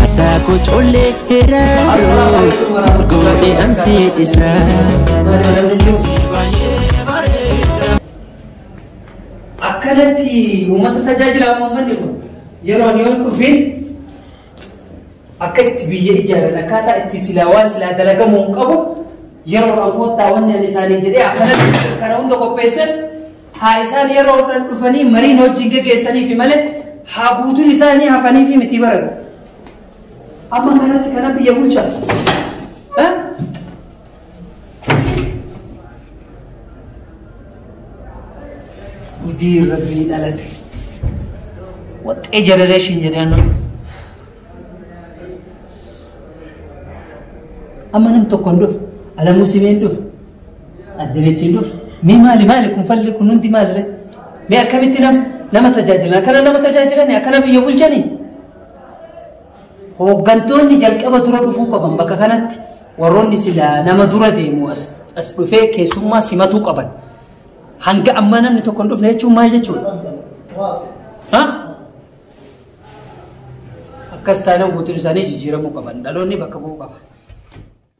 Hasaa koo collee hiraaroo maal goone an si dhisaa. akkanatti uummata tajaajilaa uummanni kun yeroo ani yoon dhufeen akka itti biyya ijaaran akkaataa itti silaa waan silaa dalagamuu hin qabu yeroo an koottaa wanni ani isaanii jedhee akkanatti kana hunda qopheessan Haa isaan yeroodhan dhufanii mariin hojjiin geggeessaniifi malee haa guutuun isaa ni hafaniifi mitii baran. Amma kanatti kana biyya bulchan. Ha? Gudii rabbii dhalate. Waxxee jenereeshin jedhee annan. Amma nam tokko hin dhufu. Alamuu simee hin dhufu. Addenechiin dur mee maali maali kun falli kun hundi maalire mee akkamitti nam nama tajaajilan akkana nama tajaajilani akkana biyya bulchani hooggantoonni jalqaba dura dhufuu qaban bakka kanatti warroonni silaa nama dura deemu as as dhufee keessummaa simatuu qaban hanga ammaa namni tokko hin dhufne jechuun maal jechuudha? Ha? Akkas taanaan guutuun isaanii jijjiiramuu qaban dhaloonni bakka bu'uu qaba.